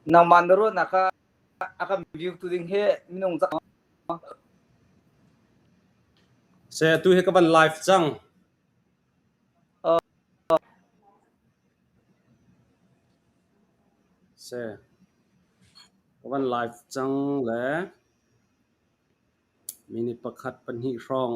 Nangmah na ruahnak ah a kan view tu ding hi minung cak maw? Saya tu hi ka van live cang. Ka van live cang le minute pakhat pahnih hrawng.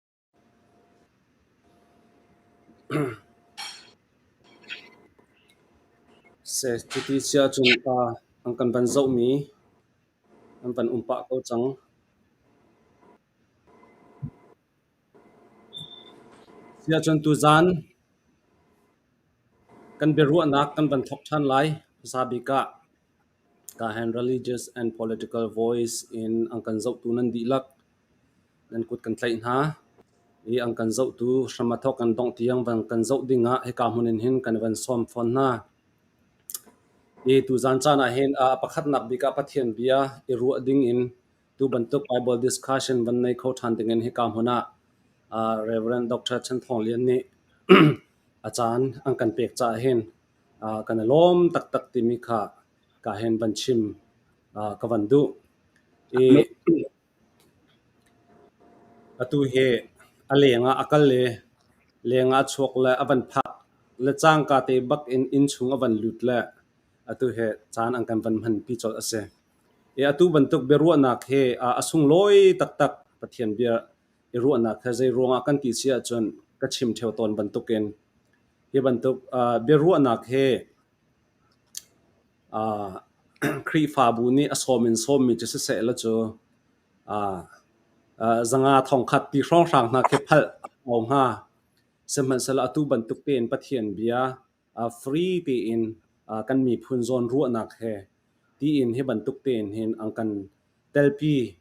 Cuti cia cun pa an kan van zohmi an van um pah ko cang. Siacun tuzan kan biaruahnak kan van thawk ṭhan lai hmasa bik ah. Kahen religious and political voice in an kan zohtu nan dihlak nan kut kan tlaih hna i an kan zohtu hram a thawk kan dongh tiang van kan zoh ding ah hika hmun in hin kan van sawm fawn hna. I tuzan caan ah hin ah pakhatnak bik ah Pathian bia i ruah ding in tu bantuk Bible discussion van nei kho ṭhan ding in hika hmun ah ah Reverend Dr. Chan Thawng Lian nih a caan an kan pek caah hin kan i lawm taktak timi kha ka hen van chim ka van duh. I atu hi a leng ah a kal i leng ah a chuak le a van phak le cangka te bak in inn chung a van lut le atu hi caan an kan van hmanpi colh a si. I atu bantuk biaruahnak hi a sunglawi taktak Pathian bia i ruahnak he zei ruangah kan ti si ahcun ka chim ṭheo tawn bantukin Hi bantuk uh, biaruahnak hi uh, Khrihfabu nih a sawm in sawmmi cu siseh la cu uh, uh, zanga thongkhat ti hrawnghrang hna khi phalh a hnga. Sihmanhsehlaw atu bantuk tein Pathian bia uh, free tiin uh, kan miphun zawn ruahnak he tiin hi bantuk tein hin an kan telpi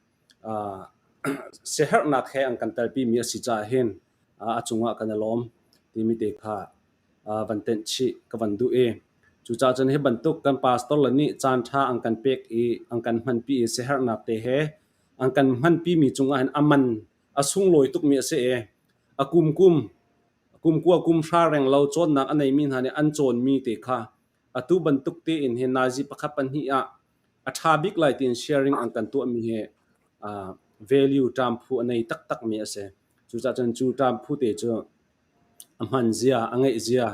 Siaherhnak he an kan telpimi a si caah hin a cungah kan i lawm timi te kha van tenh chih ka van duh i cucaah cun hi bantuk kan pastor le nih caanṭha an kan pek i an kan hmanpi i siaherhnak te he an kan hmanpimi cungah hin a man a sunglawi tukmi a si i a kumkum kumkua kumhra reng lo cawnnak a neimi hna nih an cawnmi te kha atu bantuk tein hin naizi pakhat pahnih ah A ṭha bik lai tiin sharing an kan tuahmi hi uh, value ṭam phu a nei taktakmi a si. Cucaah cun cu ṭam phu te cu a hman zia, a ngeih zia,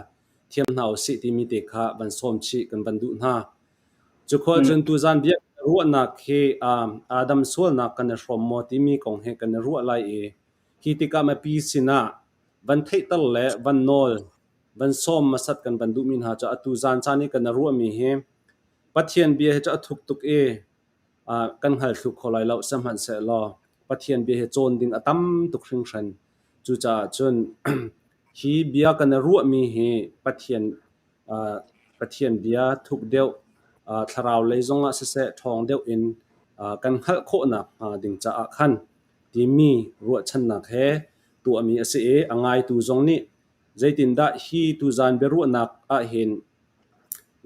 thiam hna u sih timi te kha van sawm chih kan van duh hna. Cu khual cun tuzan bia ruahnak hi um, Adam sualnak kan i hrawm maw timi kong he kan i ruah lai i hi tikah mipi sinah van theihter le van nawl, van sawm masat kan van duhmi hna cu atu zan caan i kan i ruahmi hi Pathian bia hi cu a thuk tuk i kan hngal thlu kho lai lo, sihmanhsehlaw Pathian bia hi cawn ding a tam tuk hringhran. Cucaah cun hi bia kan i ruahmi hi Pathian Pathian bia thuk deuh thlarau lei zongah siseh ṭhawng deuh in kan hngalh khawhnak hnga ding caah khan timi ruahchannak he tuahmi a si i a ngaitu zong nih Zeitindah hi tuzan biaruahnak ahhin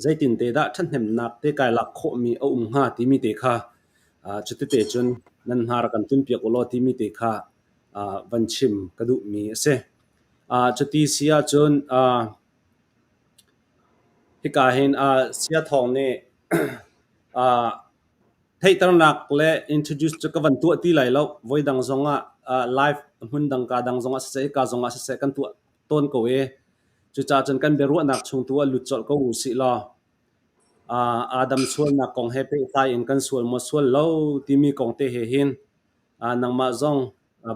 zeitinte dah ṭhathnemnak te kai lak khawhmi a um hnga timi te kha cutete cun nan hnar kan tlunpiak u law timi te kha van chim ka duhmi a si. Cuti si ahcun hika hin Sia Thawng nih Theihternak le introduce cu ka van tuah ti lai lo. Voi dang zong ah live hmun dang kaa dang zong ah siseh, hika zong ah siseh kan tuah tawn ko i cucaah cun kan biaruahnak chung tu ah lut colh ko u sih law aa dam sualnak kong he pehtlai in kan sual maw sual lo timi kong te he hin nangmah zong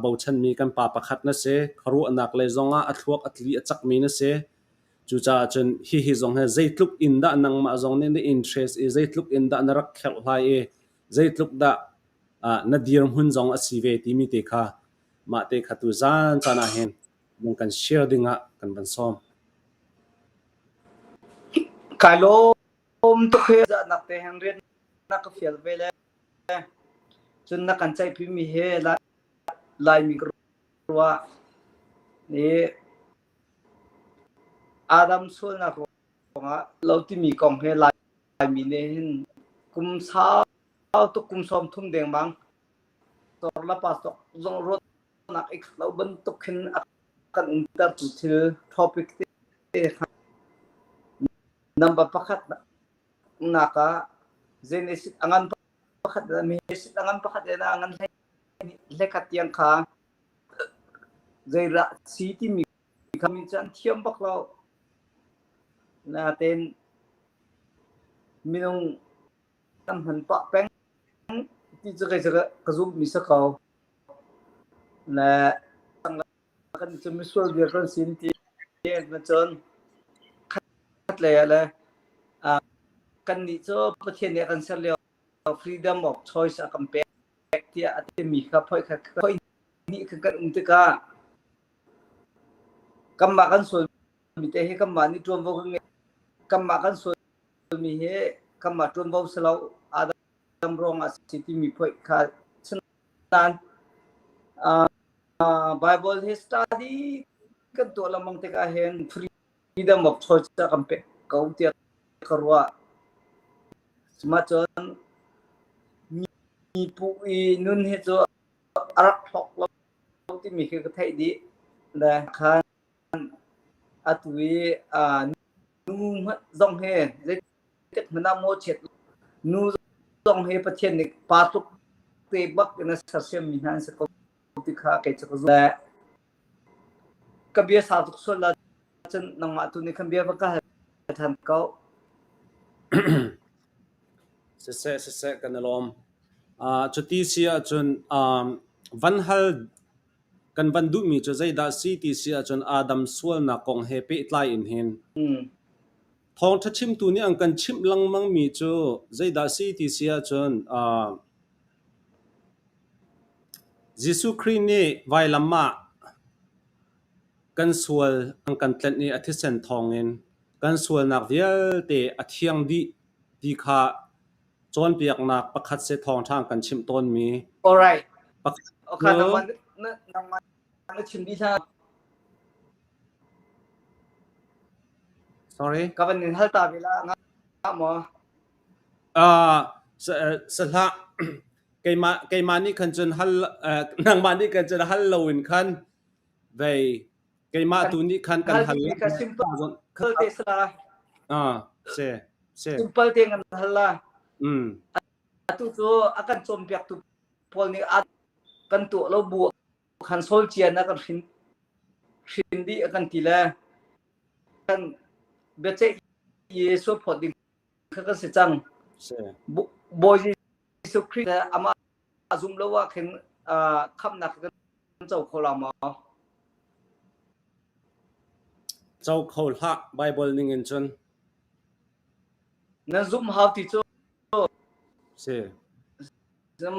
bochanmi kan pa pakhat na si. Khuaruahnak lei zong ah a thluak a tli a cakmi na si. Cucaah cun hihi zong hi zeitluk in dah nangmah zong nih na interest i zeitluk in dah na rak kherh hlai i zeitluk dah uh, na dirhmun zong a si ve timi te kha mah te kha tu zan caan ah hin mung kan share ding ah kan van sawm. Kai lom tu khe za nak te hang rian na ka fial ve le cun na kan chai phi mi he lai lai mi ruwa ni Aa dam sualnak ruangah lo timi kong he Laimi nih hin kum sau tuk kum sawm thum dengmang torlapa cawk zong ruahnak ik lo bantuk hin a kan umtertu thil topic te kha number pakhat nak ah zein a ngan pakhat a ngan pakhat na ngan hleikhat tiang kha Zeidah si timi kha mi cu an thiam bak lo. Natein minung kan hman pah peng ti cu kei cu ka zumhmi si ko. Le kan cu misual vial kan si an ti ahcun khatlei ah le kannih cu Pathian nih a kan ser lio freedom of choice a kan pek tiah a timi kha phoih hnih kha kan um tikah kanmah kan sualmi te hi kanmah nih ṭuanvo kan ngei kanmah kan sualmi hi kanmah ṭuanvo si lo adam ruangah a si timi phoih kha sinain Bible hi study kan tuah lengmang tikah hin free midang bak choice kan pek ko tiah ka ruah. Sumacun mi pu i nun hi cu a rak thok lo timi khi ka theih dih. Le khan atu i nu zong he zeitik hmanh ah maw chiat nu zong he Pathian nih pa tluk te bak in a sersiam mi hna an si ko ti kha kei cu ka zumh le ka bia sau tuk sual la cun nangmah tu nih khan bia va ka hal ṭhan ko siseh siseh kan i lawm uh, cuti si ahcun um, van hal kan van duhmi cu zeidah si ti si ahcun adam sualnak kong he pehtlai in hin thawngṭha chimtu nih an kan chimh lengmang mi cu zeidah si ti si ahcun uh, Jesuh Khrih nih vailam ah kan sual an kan tlenh i a thisen thawngin kan sualnak vialte a thiang dih ti kha cawnpiaknak pakhat seh thawngṭha kan chimh tawnmi pakhat cu Sahlah keimah nih khan cun hal nangmah nih khan cun hal loin khan vei keimah tu nih khan kan hal simpalte kan hal la atu cu a kan cawnpiaktu pawl nih a kan tuah lo bu khan solcian a kan hrin dih a kan ti le kan biaceih Jesuh phawt ding kha kan si cang bawi jesuh khrist le amah a zum lo ah khin khamnak kan co kho la maw co kho hlah bible ning in cun na zum hau ti cu si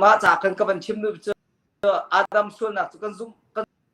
mah ca kan ka van chim nu cu adam sualnak cu kan zum kan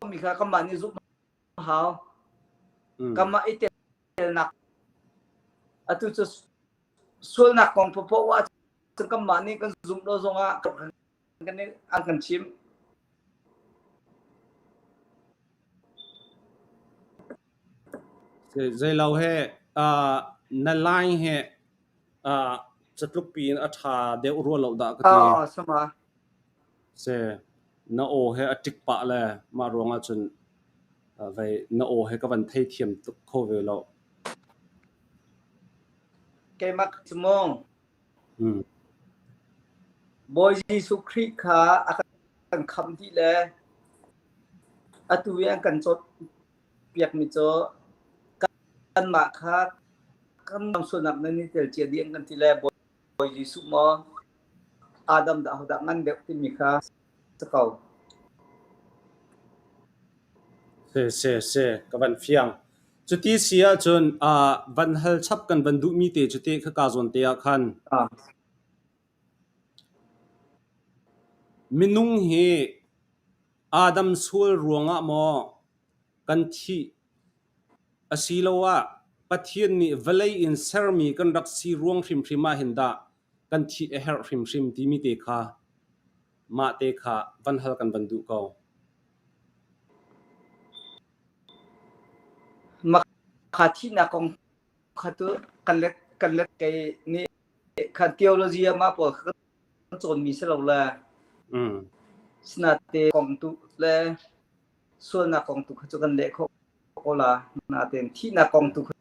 Kami kha kanmah nih zumh a hau. Mm. Kanmah i telnak atu cu sualnak kong popoh ah cun kanmah nih kan zumh lo zongah kan an kan chim. Zeilo he na line he catluk pi in a tha deuh rual lo da ka ti. Oh, sama. Seh, na aw hi a ṭik pah le mah ruangah cun vei na aw hi ka van theithiam tuk kho ve lo. Keimak cu maw? Bawi Jesuh Khrih kha a kan khamh dih le atu i an kan cawnpiakmi cu kanmah kha kan sualnak nan i tel cia dih an kan ti le Bawi Jesuh maw Adam dah ahodah ngan deuh timi kha si ko. Si, si, si, ka van fiang. Cuti si ahcun uh, van hal chap kan van duhmi te cu te kha ka zawn te ah khan Ah, minung hi Adam sual ruangah maw kan thih Asiloah Pathian nih vawlei in sermi kan rak si ruang hrimhrim ah hin dah kan thih a herh hrimhrim timi te kha mah te kha van hal kan van duh ko. Mah thihnak kong kha cu kan let kan let kei nih kha theology ah mah pawl kha kan cawnmi si lo le sinate kong tu le sualnak kong tu kha cu kan leh khawh ko la natein thihnak kong tu kha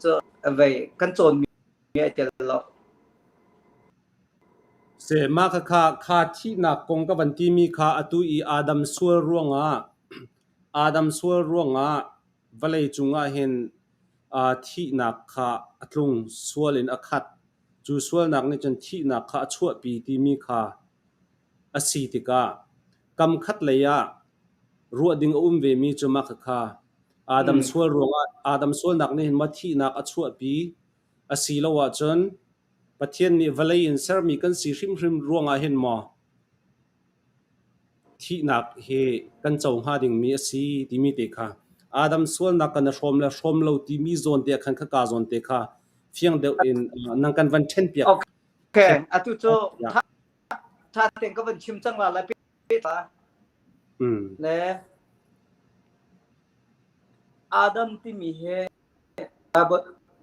cu vei kan cawnmi a tel lo sema kha kha kha thihnak kong ka van timi kha atu i adam sual ruangah adam sual ruangah vale cungah hin a thihnak kha a tlung sual in a khat cu sualnak nih cun thihnak kha a chuahpi timi kha A si tikah kam khat lei ah ruah ding a um vemi cu mah khakha Adam sual ruangah Adam sualnak nih hin ma thihnak a chuahpi a si lo ahcun Pathian nih vawlei in sermi kan si hrimhrim ruangah hin maw thihnak hi kan co hnga dingmi a si timi te kha Adam sualnak kan i hrawm le hrawm lo timi zawn te ah khan khaka zawn te kha fiang deuh in nang kan van ṭhen piak. Okay, atu cu ṭha tein ka van chim cang la lai pehta le Adam timi hi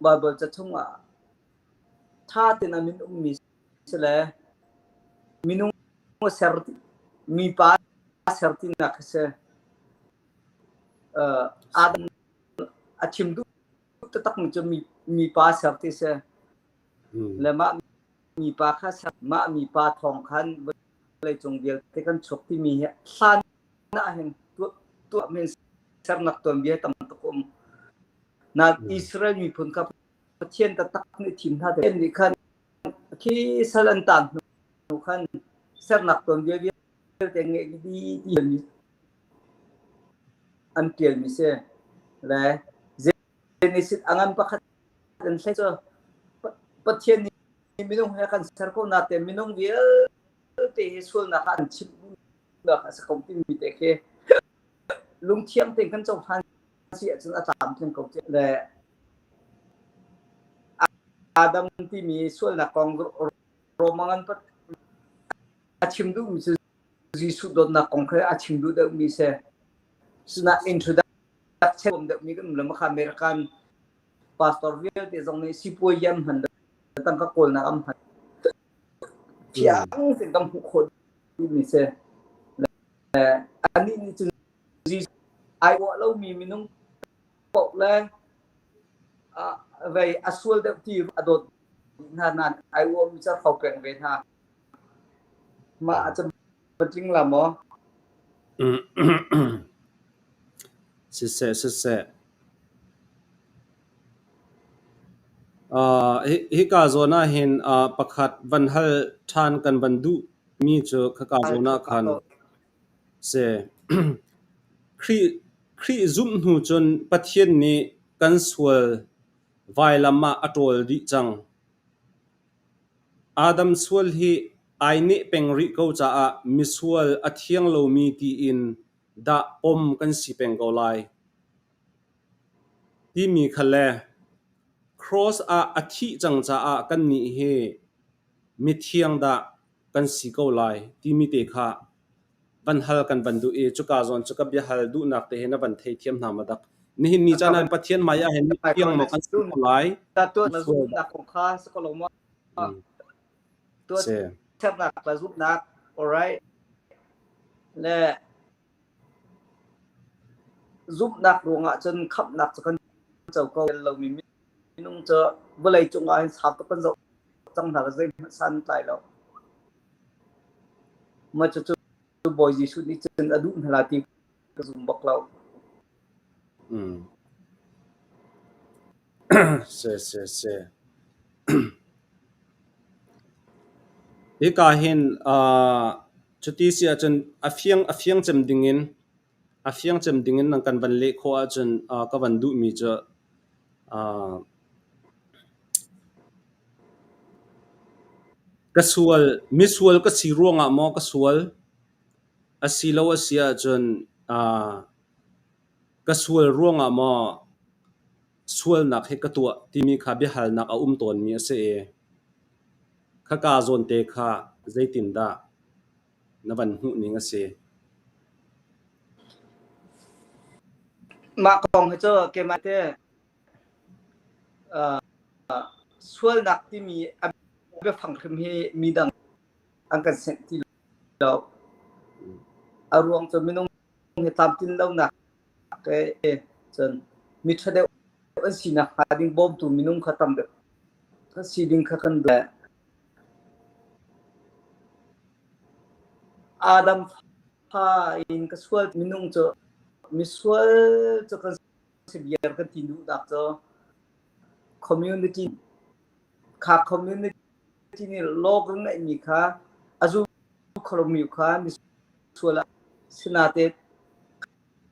Bible ca chungah ṭha tein a min ummi si le minung ser mipa ser tinak hi si Adam a thim duh takmi cu mipa ser ti si le mah mipa kha ser mah mipa thawng khan vawleicung vialte kan chuk timi hi hlan ahhin tuah men sernak tuanbia tam tuk um na Israel miphun kha Pathian taktak nih thim hna te nih khan khi sal an tan hnu khan sernak tuanbia vialte nge di an tial mi se le Genesis a ngan pakhat an thlei cu Pathian nih minung he kan ser ko na te minung vialte hi sualnak ah an chip nak a sa ko ti mi te khi lungthiang ten kan cohlan si ahcun a tlam thiang ko tiah le Adam timi sualnak kong Roma ngan pat a chim duh mi cu Jesuh dawtnak kong kha a chim duh deuhmi si. Sinah introduction um deuhmi kan um le makha American pastor vialte zong nih sipuai yam hman tangka kawlnak am hman fiang sin kan hmuh khawh mi se anih nih cun ai wa lo mi minung pok le vei a sual deuh ti a dawt hna nan ai wa mi char khau peng ve hna Mah a camṭi tling la maw? Hika zawn ahhin pakhat van hal ṭhan kan van duhmi cu khaka zawn ahkhan a si. Khrih zumh hnu cun Pathian nih kan sual vailam ah a ṭawl dih cang. Adam sual hi ai neh peng rih ko caah misual a thiang lomi tiin dah pom kan si peng ko lai? timi kha le cross ah a thih cang caah kannih hi mithiang dah kan si ko lai timi te kha Van hal kan van duh i cuka zawn cu ka biahal duhnak te he na van theithiam hna maw dak? Nihin ni caan ah Pathian hmai ah hin fiangmak an si ko lai. Ta tuat na zumh nak kong kha si ko lo maw? Tuat sernak na zumh nak, alright. Le zumhnak ruangah cun khamhnak cu kan co ko lomi minung cu vawlei cungah hin sau tuk kan zoh cang hna, zeihmanh san tlai lo. Cucu Bawi Jesuh nih cun a duh hna la ti ka zum bak lo. Hika hin cuti si ahcun a fiang cem ding in A fiang cem ding in nan kan van leh khawh ahcun ka van duhmi cu ka sual, misual ka si ruangah maw ka sual? Asilo asi ahcun ka sual ruangah maw sualnak hi ka tuah timi kha biahalnak a um tawnmi a si i, khaka zawnte kha zeitindah? Na van hmuh ning a si. Mah kong hi cu keimah te uh, sualnak timi a biafang hrim hi midang an kan senh ti lo. A ruang cu minung hi tlamtlin lonak ke cun mi ṭha deuh an si nakhnga ding bawmtu minung kha tam deuh kan si ding kha kan duh. Adam fa in ka sual minung cu misual cu kan si biar kan ti duh dak cu community kha community nih law kan ngeih mi kha a zu kholmi kha misual ah sinate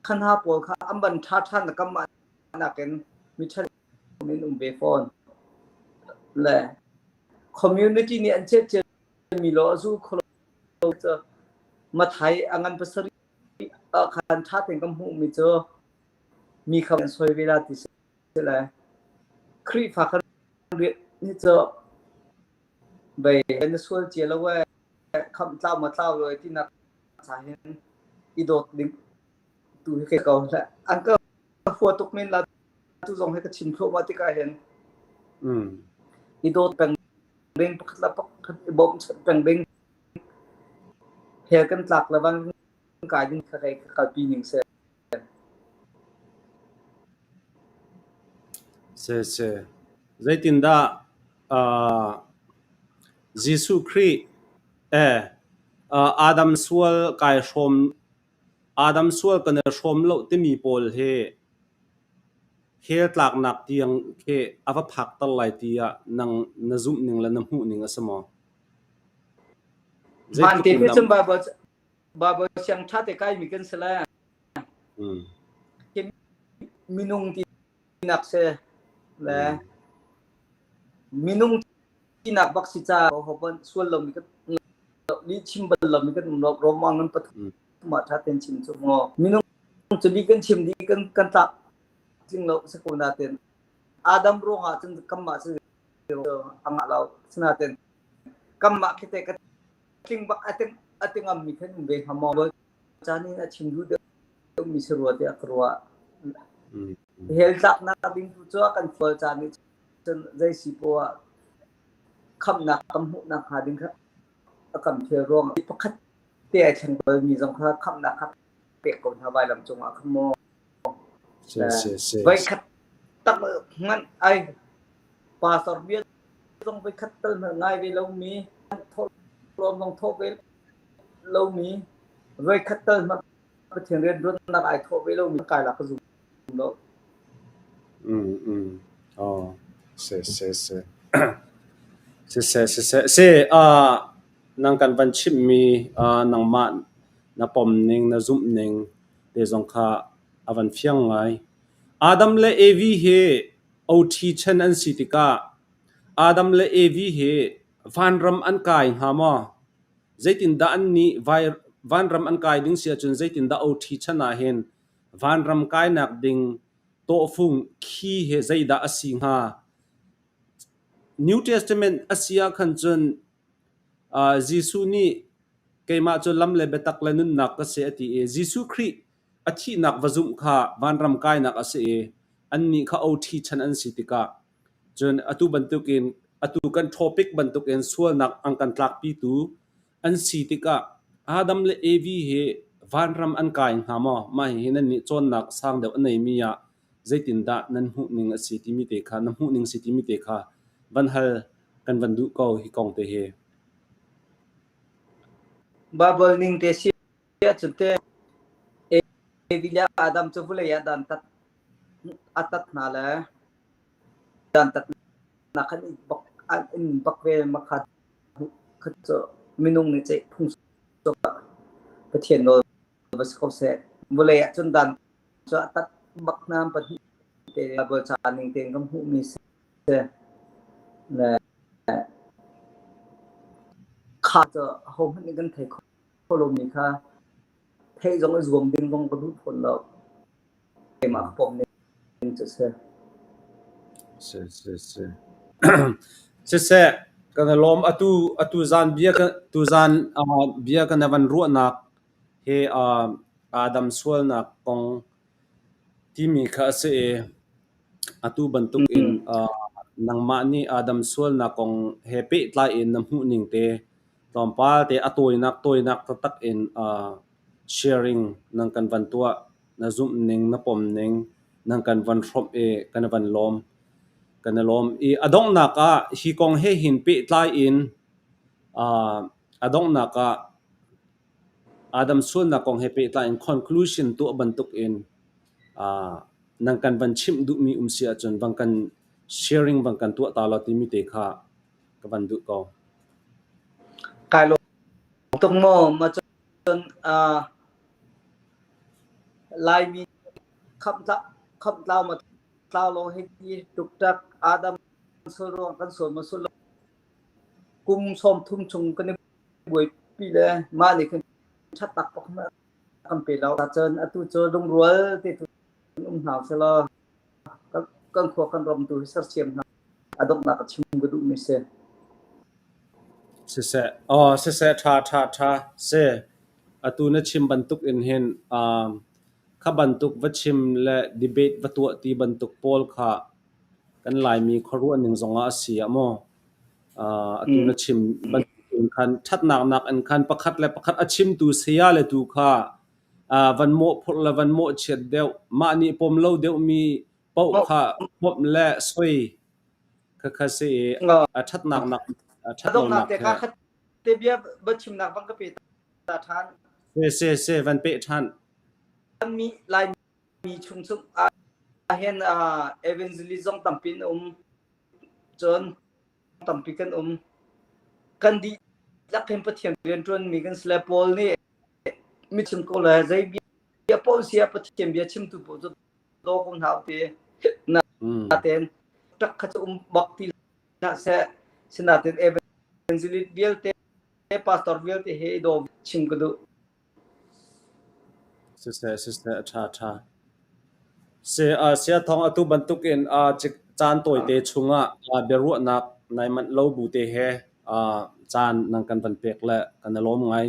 khan ha pawl kha an ban ṭha ṭhan nakam mah nakin mi ṭhat community nih an chet ciami law a zu kholo cu mathai a ngan pasarih a khan tha ten kan hmuh mi cu mi kha an soi ve la ti si le Khrihfa kan riat ni cu bei na sual cia lo we kham tlau ma tlau lo ti nak sa hin i dawt ding tu hi ke ko hlah an ka hua tuk men la tu zong hi ka chim thluah ma tik ah hin i dawt peng ding pakhat la pakhat i bawm chat peng ding he kan tlak le van kai ding kha kai kalpi ning se se se zeitindah uh, Jesuh Khrih eh uh, Adam sual kai hrawm Adam sual kan i hrawm lo timi pawl hi hell tlaknak tiang khi a va phakter lai ti ah nang na zumh ning le na hmuh ning a si maw? Van te pe chung Bible Bible siang ṭha te kai mi kan si le minung ti tinak si le minung tinak bak si ca hoban sual lomi kan li chim bal lomi kan romang ngan pathum ma tha ten chim chu ngo minung chu li kan chim di kan kan ta tling lo se ko na ten adam ro ha chun kam ma si anga lau sna ten kam ma khite ka tling bak ating ating am mi khen be hamong caan in a chim duh deuhmi si rua tiah ka ruah. Heltlaknak ding tu cu a kan fual caan nih cun zeisi poah khamnak kan hmuhnak hnga ding kha a kan phel ruang pakhat te ai thleng balmi zong kha khamnak kha pek ko hna vailam cungah kha maw voikhat tak nganh ai pastor bia zong voikhat tal ngai ve lomi thawlawm zong thaw ve lomi voikhat tal hmanh Pathian rianruatnak ai thawh ve lomi kailah ka zum lo. Mm mm. Oh, se se se. se se se se se uh nang kan van chim mi uh nangmah na pom ning na zum ning te zong kha avan fiang ngai. Adam le Evi he OT chen an si tikah Adam le Evi he Vanram an kai hnga maw? Zeitindah annih vanram an kai ding si ahcun zeitindah OT chan ahhin vanram kainak ding tawhfung khi hi zeidah a si hnga? New Testament a si ahkhan cun Jesuh nih keimah cu lam le biatak le nunnak ka si a ti i Jesuh Khrih A thihnak va zumh kha vanram kainak a si i annih kha oṭhi chan an si tikah cun atu bantukin atu kan topic bantukin sualnak an kan tlakpitu an si tikah Adam le Evi hi vanram an kai hnga maw? Mah hihi nannih cawnnak sang deuh a neimi ah zeitindah nan hmuhning a si timi te kha na hmuhning si timi te kha van hal kan van duh ko hi kong te hi. Baibal ning te si Cute Evilia Adam cu vulei ah dantat a tat hna le dantatnak an in bak an in bak ve ma kha kha cu minung nih ceih phung Pathian nawl va si ko seh vulei ah cun dan cu a tat bak hnam pahnih te a bual ca ning tein kan hmuh mi si le kha cu ho hmanh nih kan thei kho kho lomi kha theih zong a zuam ding zong ka duh fawn lo. Keimah pom ning cu si. Si si si. Siseh kan lom atu atu zan bia ka tu zan uh, bia ka nevan ruahnak he uh, adam sualnak kong timi kha ase e atu bantuk in uh, nangmah ni adam sualnak kong he pe tlai in na hmuh ning te Tlawmpal te a tawinak tawinak taktak in aa sharing nan kan van tuah. Na zumh ning, na pom ning nan kan van hrawmh i kan van lawm. Kan i lawm. I a donghnak ah hi kong he hin pehtlai in aa a donghnak ah Adam sualnak kong he pehtlai in conclusion tuah bantuk in aa nan kan van chimh duhmi um si ahcun bang kan sharing bang kan tuah ta law timi te kha ka van duh ko. Kai lawm tuk maw macun uh, Laimi khamtla khamtlau ma tlau lo hei hi tuktak adam suruang kan sual ma sul lo kum som thum chung kan buai pi le ma ni kan chat tak pak ma kan pe lau ta chon atu cho lungrual te tu um hau se lo kan khua kan ram tu hi sersiam hna a donghnak a chim ka duhmi si siseh aw siseh tha tha tha se atu na chim bantuk in hin kha bantuk va chim le debate va tuah ti bantuk pawl kha kan laimi khuaruah ning zongah a si amaw atu na chim bantuk in khan thatnak nak in khan pakhat le pakhat a chimtu saya le tu kha van mawhphurh le van mawhchiat deuh. Mah nih pawm lo deuhmi paoh kha pawmh le soi khakha si i a ṭhatnak nak a ṭhat lonak he te bia va chimnak bang ka pe ta ṭhan. Se se se van pe ṭhan. Mi lai mi chung sung ahen evangelism tampi in um cun tampi kan um kan dih lak hin pathian rian ṭuan mi kan sle paul nih Mitchim ko le zei bia paoh sia Pathian bia chimtu paoh cu daw ko hna upi. Na tein ṭak kha cu um bak ti hna seh. Sinain evangelist vialte pastor vialte he i daw chim ka duh. Siseh siseh a ṭha ṭha. Si sia thawng atu bantuk in caan tawite chungah biaruahnak nai manh lo bu te he caan nan kan van pek le kan i lawm ngai.